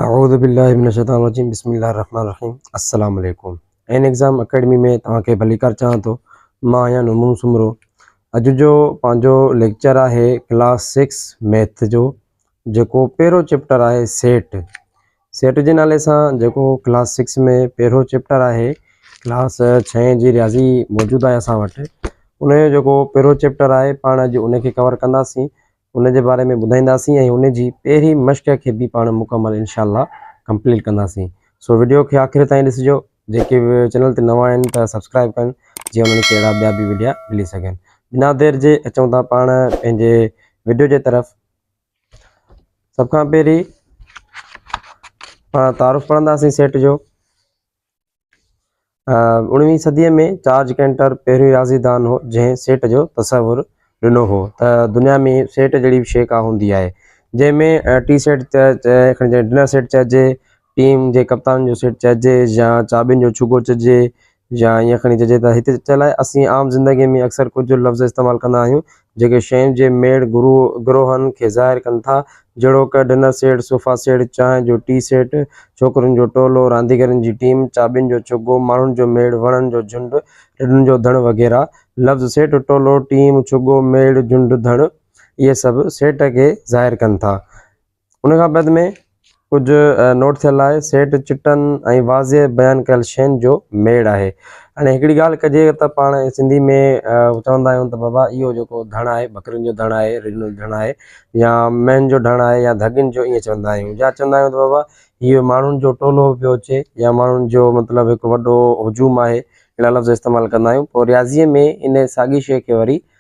اعوذ بالله من الشيطان الرجيم بسم الله الرحمن الرحيم السلام عليڪم اين ايگزام اڪيڊمي ۾ توهان کي ڀليڪار چاهيان ٿو مان آهيان نمون سومرو اڄ جو پنهنجو ليڪچر آهي ڪلاس سڪس ميٿ جو جيڪو پهرو چيپٽر آهي سيٽ سيٽ جي نالي سان جيڪو ڪلاس سڪس ۾ پهرو چيپٽر آهي ڪلاس ڇهين جي رياضي موجود آهي اسان وٽ ان جو جيڪو پهرو چيپٽر آهي پاڻ اڄ ان کي ڪور ڪنداسين ان جي باري ۾ ٻڌائينداسين ۽ ان جي پهرين مشق کي به پاڻ مڪمل انشاء الله ڪمپليٽ ڪنداسين سو وڊيو کي آخر تائين ڏسجو جيڪي به چينل تي نوان آهن ته سبسڪرائب ڪن جي انهن کي اهڙا ٻيا به وڊيا ملي سگهن بنا دير جي اچون ٿا پاڻ پنهنجي وڊيو جي طرف سڀ کان پهرين پاڻ تعارف پڙهنداسين سيٽ جو اوڻويهين صديء ۾ جارج ڪينٽر پهريون رياضي دان هو جنهن سيٽ جو تصور ڏنو هو ته دنيا ۾ سيٽ جهڙي به شيء ڪا هوندي آهي جنهن ۾ ٽي سيٽ جنهن ڊنر سيٽ چئجي ٽيم جي ڪپتان جو سيٽ چئجي يا چاٻين جو ڇڳو چئجي يا ائين کڻي چئجي ته هتي چيلهه اسين عام زندگي ۾ اڪثر ڪجهه لفظ استعمال ڪندا آهيون جيڪي شين جي ميڙ گروء، گروهن، کي ظاهر ڪن ٿا، جهڙوڪ، ڊنر سيٽ، صوفا سيٽ، چانهه جو ٽي سيٽ، ڇوڪرين جو ٽولو، رانديگرن جي ٽيم، چاٻين جو چغو، ماڻهن جو ميڙ، وڻن جو جهنڊ، رڍن جو ڌڻ وغيره. لفظ سيٽ، ٽولو، ٽيم، ڇڳو، ميڙ، جهنڊ، ڌڻ، اهي سڀ سيٽ کي ظاهر ڪن ٿا. ان کان بعد ۾ ڪجهه نوٽ ٿيل آهي سيٽ چٽن ۽ واضح بيان ڪيل شين جو ميڙ آهي هاڻي هڪڙي ڳالهه ڪجي ته پاڻ سنڌي ۾ چوندا آهيون ته بابا اهو جيڪو ڌڻ آهي ٻڪرين جو ڌڻ آهي رڍن جو ڌڻ آهي يا مين جو ڌڻ آهي يا ڌڳين جو ائين چوندا آهيون يا چوندا آهيون ته بابا اهو ماڻهن جو ٽولو پيو اچي يا ماڻهن جو مطلب هڪ وڏو هجوم آهي اهڙا لفظ استعمال ڪندا آهيون پوء رياضيء ۾ ان ساڳي شيء کي وري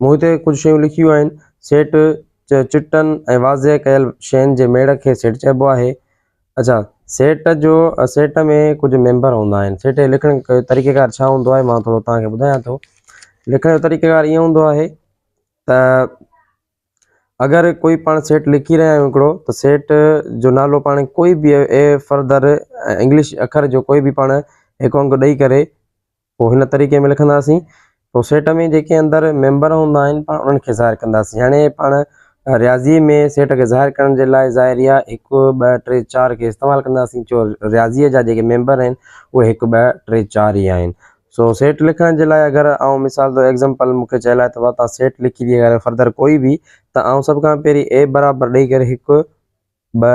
مون هتي ڪجهه شيون لکيون آهن. سيٽ چٽن ۽ واضح ڪيل شين جي ميڙ کي سيٽ چئبو آهي. اڇا سيٽ جو سيٽ ۾ ڪجهه ميمبر هوندا آهن. سيٽ جي لکڻ جو طريقيڪار ڇا هوندو آهي مان ٿورو توهان کي ٻڌايان ٿو. لکڻ جو طريقيڪار ائين هوندو آهي ته اگر ڪوئي پاڻ سيٽ لکي رهيا آهيون هڪڙو ته سيٽ جو نالو پاڻ ڪوئي به اي فردر انگلش اکر جو ڪوئي به پاڻ هڪ انگ ڏئي ڪري پوء هن طريقي ۾ لکنداسين. سيٽ ۾ جيڪي اندر ميمبر هوندا آهن پاڻ انهن کي ظاهر ڪنداسين. هاڻي پاڻ رياضيء ۾ سيٽ کي ظاهر ڪرڻ جي لاء ظاهريه هڪ، ٻه، ٽي، چار کي استعمال ڪنداسين ڇو رياضيء جا جيڪي ميمبر آهن اهي هڪ، ٻه، ٽي، چار ئي آهن. سو سيٽ لکڻ جي لاء اگر آئون مثال طور Example مون کي چيل آهي ته واتان سيٽ لکي ڏي اگر Further ڪوئي به ته آئون سڀ کان پهرين A برابر ڏئي ڪري هڪ، ٻه،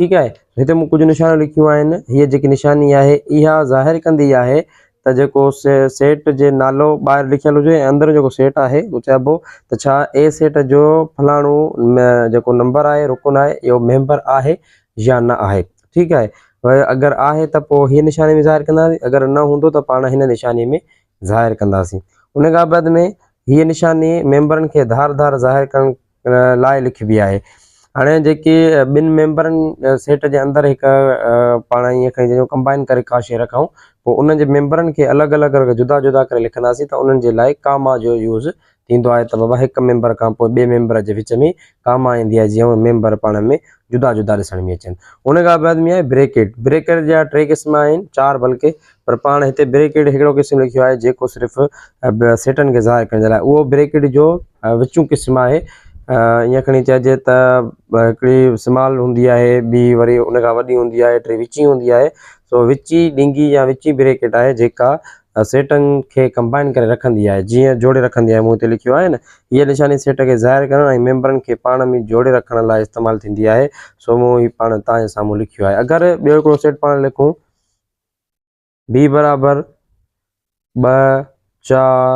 ٺيڪ آهي. هتي مون ڪجهه نشانيون لکيون آهن. هيء جيڪي نشاني آهي، اها ظاهر ڪندي آهي ته جيڪو سيٽ جي نالو ٻاهر لکيل هجي ۽ اندر جيڪو سيٽ آهي اهو چئبو ته ڇا اي سيٽ جو فلاڻو جيڪو نمبر آهي، رڪن آهي، اهو ميمبر آهي يا نه آهي. ٺيڪ آهي. اگر آهي ته پوء هيء نشاني ۾ ظاهر ڪنداسين، اگر نه هوندو ته پاڻ هن نشاني ۾ ظاهر ڪنداسين. ان کان بعد ۾ هيء نشاني ميمبرن کي ڌار ڌار ظاهر ڪرڻ. لاء لکبي آهي. هاڻي جيڪي ٻن ميمبرن سيٽ جي اندر هڪ پاڻ ائين کڻي جيڪو ڪمبائن ڪري ڪا شيء رکائون پوء ان جي ميمبرن کي الڳ الڳ ڪري جدا جدا ڪري لکنداسين ته انهن جي لاء ڪاما جو يوز ٿيندو آهي ته بابا هڪ ميمبر کان پوء ٻئي ميمبر جي وچ ۾ ڪاما ايندي آهي جيئن ميمبر پاڻ ۾ جدا جدا ڏسڻ ۾ اچن. ان کان بعد ۾ آهي بريڪٽ. بريڪٽ جا ٽي قسم آهن چار بلڪه. پر پاڻ هتي بريڪيڊ هڪڙو قسم لکيو آهي جيڪو صرف سيٽن کي ظاهر ڪرڻ جي لاء اهو بريڪيڊ جو وچون قسم آهي ائين کڻي چئجي ته هڪڙي سمال هوندي آهي ٻي وري ان کان وڏي هوندي آهي ٽي وچين هوندي آهي سو وچي ڏينگي يا وچي بريڪيڊ آهي جيڪا سيٽن کي ڪمبائن ڪري رکندي آهي جيئن جوڙي رکندي آهي مون هتي لکيو آهي نه هيء نشاني سيٽ کي ظاهر ڪرڻ ۽ ميمبرن کي پاڻ ۾ جوڙي رکڻ لاء استعمال ٿيندي آهي سو مون هي پاڻ توهان جي سامهون لکيو آهي اگر ٻيو هڪڙو سيٽ پاڻ لکون بي برابر ٻه چار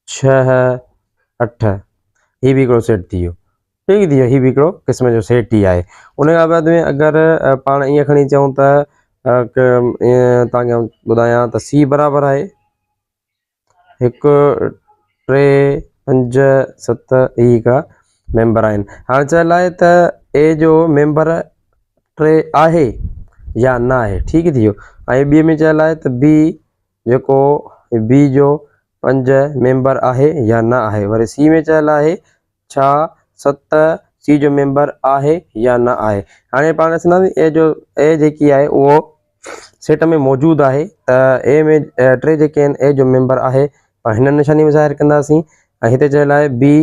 ڇهه اٺ هي به هڪڙو سيٽ ٿي ويو ٺيڪ ٿي ويو هي به هڪڙو قسم جو سيٽ ئي آهي ان کان بعد ۾ اگر پاڻ ائين کڻي چئون ته ائين تانکي آئون ٻڌايان ته سي برابر آهي هڪ ٽي پنج ست هي هڪڙا ميمبر آهن هاڻ چاء لاء ته اي جو ميمبر ٽي آهي يا نه آهي ٺيڪ ٿي ويو ۽ ٻي ۾ چاء لاء ته بي جيڪو بي جو پنج ميمبر آهي يا نه آهي وري سي ۾ چاء لاء ڇا ست سي جو ميمبر آهي يا نه آهي هاڻي پاڻ ڏسنداسين اي جو اي جيڪي آهي اهو سيٽ ۾ موجود آهي ته اي ۾ ٽي جيڪي آهن اي جو ميمبر آهي پاڻ هن نشاني ۾ ظاهر ڪنداسين ۽ هتي چيل آهي بي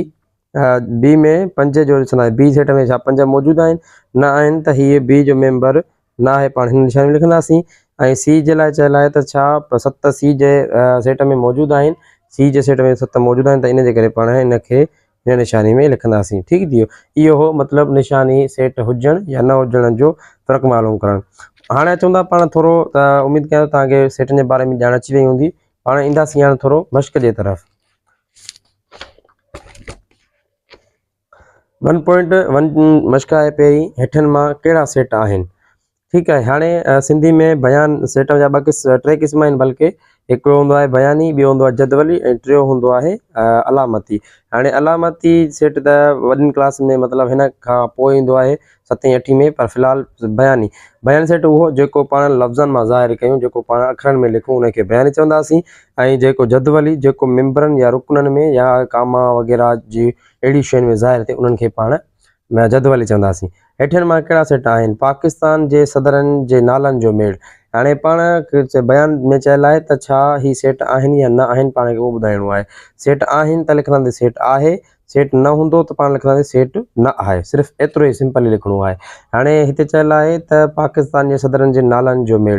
بي ۾ پنج جو ڏسنداسين بي سيٽ ۾ ڇا پنج موجود آهن نه آهن ته هيء بي جو ميمبر نه آهي پاڻ هن نشاني ۾ لکنداسين ۽ سي جي لاء چيل آهي ته ڇا ست سي جي سيٽ ۾ موجود آهن سي جي سيٽ ۾ ست موجود آهن ته ان جي ڪري پاڻ ان کي هن نشاني ۾ لکنداسين ٺيڪ ٿي ويو اهو هو مطلب نشاني سيٽ هجڻ يا نه هجڻ جو فرق معلوم ڪرڻ هاڻي اچون ٿا پاڻ ٿورو ته اميد ڪيان توهان کي سيٽن جي باري ۾ ڄاڻ اچي وئي هوندي پاڻ اينداسين هاڻي ٿورو مشق جي طرف ون پوائنٽ ون مشق آهي پهرين هيٺن مان ڪهڙا سيٽ آهن ٺيڪ آهي هاڻي سنڌي ۾ بيان سيٽ جا ٻه قسم ٽي قسم آهن بلڪه هڪڙو هوندو آهي بياني ٻيو هوندو آهي جدولي ۽ ٽيو هوندو آهي علامتي هاڻي علامتي سيٽ ته وڏين ڪلاس ۾ مطلب هن کان پوء ايندو آهي ستين اٺين ۾ پر في الحال بياني بيان سيٽ اهو جيڪو پاڻ لفظن مان ظاهر ڪيون جيڪو پاڻ اکرن ۾ لکون ان کي بياني چونداسين ۽ جيڪو جدولي جيڪو ممبرن يا رڪنن ۾ يا ڪاما وغيره جي اهڙي شين ۾ ظاهر ٿئي انهن کي پاڻ ۾ جدولي چونداسين. هيٺين مان ڪهڙا سٽ آهن؟ پاڪستان جي صدرن جي نالن جو ميڙ. هاڻي پاڻ کي بيان ۾ چيل آهي ته ڇا هي سيٽ آهن يا نه آهن پاڻ کي اهو ٻڌائڻو آهي. سيٽ آهن ته لکنداسين سيٽ آهي، سيٽ نه هوندو ته پاڻ لکنداسين سيٽ نه آهي. صرف ايترو ئي سمپل ئي لکڻو آهي. هاڻي هتي چيل آهي ته پاڪستان جي صدرن جي نالن جو ميڙ.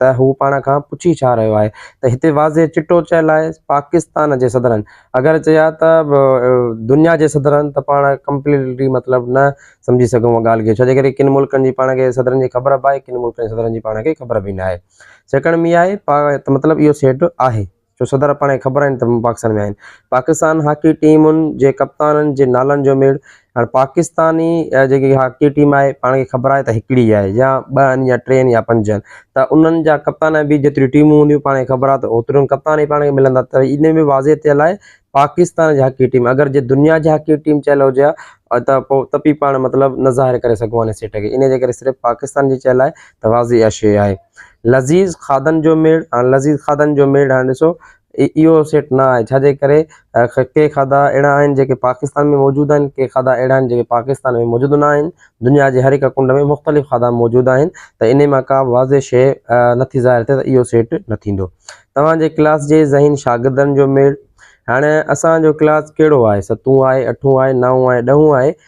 ته هو پاڻ کان پڇي ڇا رهيو آهي ته هتي واضح چٽو چيل آهي پاڪستان جي صدرن اگر چيا ته دنيا جي صدرن ته پاڻ ڪمپليٽلي مطلب نه سمجهي سگهون ان ڳالهه کي ڇو جي ڪري ڪن ملڪن جي پاڻ کي صدرن جي خبر به آهي ڪن ملڪن جي صدرن جي پاڻ کي خبر به ناهي سيڪڙ مياهي ته مطلب اهو سيٽ آهي جو صدر پاڻ کي خبر آهن ته مون پاڪستان ۾ آهن پاڪستان هاڪي ٽيمن جي ڪپتانن جي نالن جو ميڙ هاڻ پاڪستاني جيڪي هاڪي ٽيم آهي پاڻ کي خبر آهي ته هڪڙي آهي يا ٻه آهن يا ٽي آهن يا پنج آهن ته انهن جا ڪپتان به جيتريون ٽيمون هونديون پاڻ کي خبر آهي ته اوترين ڪپتان ئي پاڻ کي ملندا ته ان ۾ واضح ٿيل آهي پاڪستان جي هاڪي ٽيم اگر جي دنيا جي هاڪي ٽيم چيل هجي ها ۽ ته پو ته پي پاڻ مطلب نه ظاهر ڪري سگهون ها ان سيٽ کي ان جي ڪري صرف پاڪستان جي چيل آهي ته واضح اها شيء آهي لذيذ کاڌن جو ميڙ هاڻي لذيذ کاڌن جو ميڙ هاڻي ڏسو اهو سيٽ نه آهي ڇاجي ڪري ڪي کاڌا اهڙا آهن جيڪي پاڪستان ۾ موجود آهن ڪي کاڌا اهڙا آهن جيڪي پاڪستان ۾ موجود نه آهن دنيا جي هر هڪ ڪنڊ ۾ مختلف کاڌا موجود آهن ته انهي مان ڪا به واضح شيء نٿي ظاهر ٿئي ته اهو سيٽ نه ٿيندو توهان جي ڪلاس جي ذهين شاگردن جو ميڙ هاڻي اسان جو ڪلاس ڪهڙو آهي ستون آهي اٺون آهي نائون آهي ڏهون آهي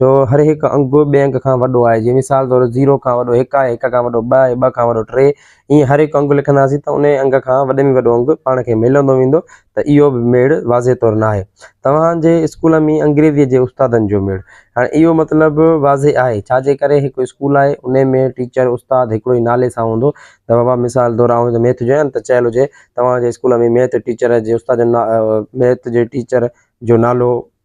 جو هر هڪ انگ به ٻئي انگ کان وڏو آهي، جيئن مثال طور زيرو کان وڏو هڪ آهي، هڪ کان وڏو ٻه آهي، ٻه کان وڏو ٽي، ائين هر هڪ انگ لکنداسين ته انهيء انگ کان وڏي ۾ وڏو انگ پاڻ کي ملندو ويندو ته اهو به ميڙ واضح طور ناهي. توهان جي اسڪول ۾ انگريزيء جي استادن جو ميڙ. هاڻي اهو مطلب واضح آهي، ڇا جي ڪري هڪ اسڪول آهي، انهيء ۾ ٽيچر، استاد، هڪڙو ئي نالي سان هوندو ته بابا مثال طور آئون هتي ميٿ جو آهيان ته چيل هجي توهان جي اسڪول ۾ ميٿ ٽيچر جي استاد جو نا ميٿ جي ٽيچر جو نالو،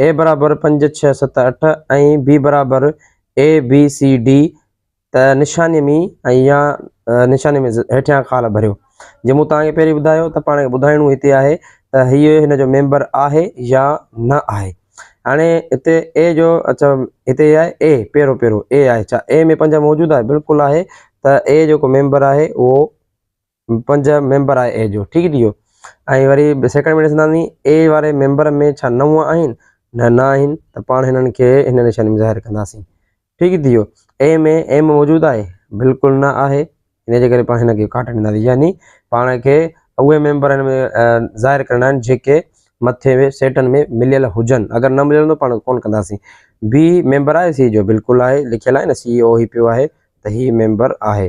اي برابر پنج، ڇهه، ست، اٺ ۽ بي برابر اي، بي، سي، ڊي ته نشاني ۾ ۽ يا نشاني ۾ هيٺيان خال ڀريو. جيئن مون توهان کي پهرين ٻڌايو ته پاڻ کي ٻڌائڻو هتي آهي ته هيء هن جو ميمبر آهي يا نه آهي. هاڻي هتي اي جو اڇا هتي هي آهي اي پهريون پهريون اي آهي ڇا اي ۾ پنج موجود آهي بلڪل آهي ته اي جيڪو ميمبر آهي اهو پنج ميمبر آهي اي جو ٺيڪ ٿي ويو ۽ وري سيڪنڊ ۾ ڏسنداسين اي واري ميمبر ۾ ڇا نو آهن نه نه آهن ته پاڻ هنن کي هن نشاني ۾ ظاهر ڪنداسين ٺيڪ ٿي ويو اي ۾ ايم موجود آهي بلڪل نه آهي ان جي ڪري پاڻ هن کي ڪاٽ ڏينداسين يعني پاڻ کي اهي ميمبر هن ۾ ظاهر ڪرڻا آهن جيڪي مٿي ۾ سيٽن ۾ مليل هجن اگر نه مليل هوندو پاڻ ڪون ڪنداسين بي ميمبر آهي سي جو بلڪل آهي لکيل آهي نه سي او هي پيو آهي ته هي ميمبر آهي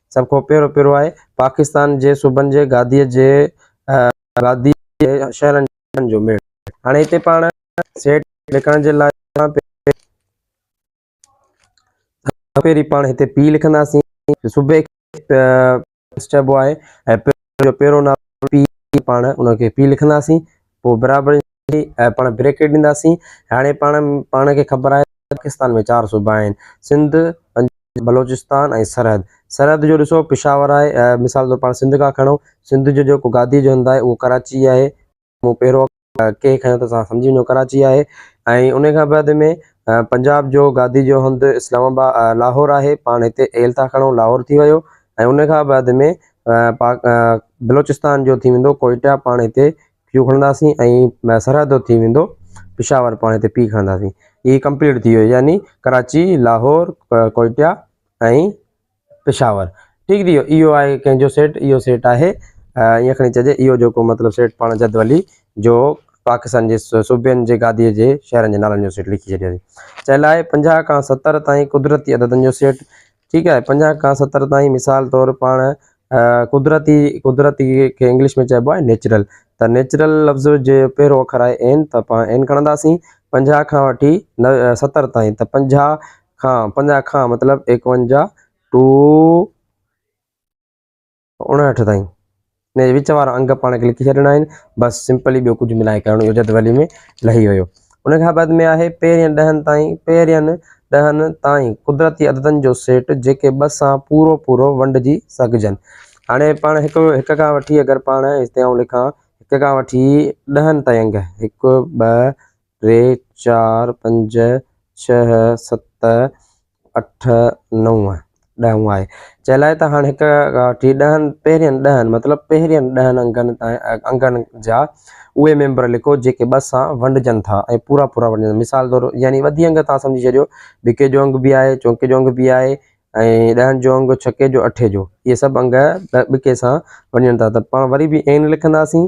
سڀ کان پهريون پيرو آهي پاڪستان جي صوبن جي گاديء جي گاديء جي شهرن جي نالن جو ميڙ. هاڻي هتي پاڻ سيٽ لکڻ جي لاء سڀ کان پهرين پاڻ هتي پي لکنداسين جو صوبي کي پيرو چئبو آهي ۽ پيرو جو پهريون نالو پي پاڻ ان کي پي لکنداسين پوء برابر جي پاڻ بريڪٽ ڏينداسين هاڻي پاڻ پاڻ کي خبر آهي پاڪستان ۾ چار صوبا آهن سنڌ بلوچستان ۽ سرحد سرحد جو ڏسو پشاور آهي مثال طور پاڻ سنڌ کان کڻو سنڌ جو جيڪو گادي جو هنڌ آهي اهو ڪراچي آهي مون پهرو ڪي کڻو ته تسان سمجهي وڃو ڪراچي آهي ۽ ان کان بعد ۾ پنجاب جو گادي جو هنڌ اسلام آباد لاهور آهي پاڻ هتي ايل ٿا کڻو لاهور ٿي ويو ۽ ان کان بعد ۾ پاڪ بلوچستان جو ٿي ويندو ڪوئٽا پاڻ هتي پيو کڻنداسين ۽ سرحد تي ٿي ويندو پشاور پاڻي تي پي کڻنداسين هي ڪمپليٽ ٿي ويو يعني ڪراچي لاهور ڪوئٽا ۽ پشاور ٺيڪ ٿي ويو اهو آهي ڪنهن جو سيٽ اهو سيٽ آهي ائين کڻي چئجي اهو جيڪو مطلب سيٽ پاڻ جدولي جو پاڪستان جي صوبين جي گاديء جي شهرن جي نالن جو سيٽ لکي ڇڏيو چيلائي پنجاهه کان ستر تائين قدرتي عددن جو سيٽ ٺيڪ آهي پنجاهه کان ستر تائين مثال طور پاڻ قدرتي قدرتي کي انگلش ۾ چئبو آهي نيچرل ته نيچرل لفظ جي پهريون اکر آهي اين ته پاڻ اين کڻنداسين پنجاهه کان وٺي ستر تائين ته پنجاهه کان پنجاهه کان مطلب ايڪونجاهه ٽو اڻاهٺ تائين ان جي وچ وارا انگ پاڻ کي لکي ڇڏڻا آهن بس سمپلي ٻيو ڪجهه ملائي ڪرڻو اهو جدولي ۾ لهي ويو ان کان بعد ۾ آهي پهرين ڏهن تائين پهرين ڏهن تائين قدرتي عددن جو سيٽ جيڪي ٻه سان پورو پورو ونڊجي سگهجن هاڻي پاڻ هڪ هڪ کان وٺي اگر پاڻ هتي آئون لکان هڪ کان وٺي ڏهن تائين انگ هڪ ٻه ٽي چار پنج ڇهه ست اٺ، نو، ڏهون آهي. چيلائي ته هاڻ هڪ ٺي ڏهن، پهرين ڏهن، مطلب پهرين ڏهن انگن تائين، انگن جا اهي ميمبر لکو جيڪي ٻه سان ونڊجن ٿا ۽ پورا پورا ونڊجن ٿا. مثال طور يعني وڌي انگ تان سمجهي ڇڏيو، بڪي جو انگ به آهي، چونڪي جو انگ به آهي ۽ ڏهن جو انگ، ڇڪي جو، اٺي جو، اهي سڀ انگ ٻڪي سان ونڊجن ٿا ته پاڻ وري به ائين نه لکنداسين.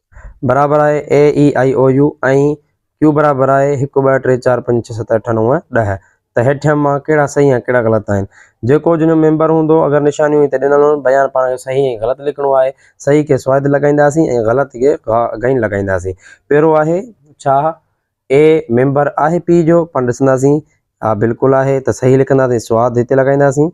برابر آهي اي اي آئي او يو ۽ ڪيو برابر آهي هڪ ٻه ٽي چار پنج ڇهه ست اٺ نو ڏهه ته هيٺيان مان ڪهڙا صحيح ۽ ڪهڙا غلط آهن جيڪو جن جو ميمبر هوندو اگر نشانيون هتي ڏنل هن بيان پاڻ کي صحيح ۽ غلط لکڻو آهي صحيح کي سوئد لڳائينداسين ۽ غلط کي غا غين لڳائينداسين پيرو آهي ڇا اي ميمبر آهي پي جو پاڻ ڏسنداسين ها بلڪل آهي ته صحيح لکنداسين سواد هتي لڳائينداسين.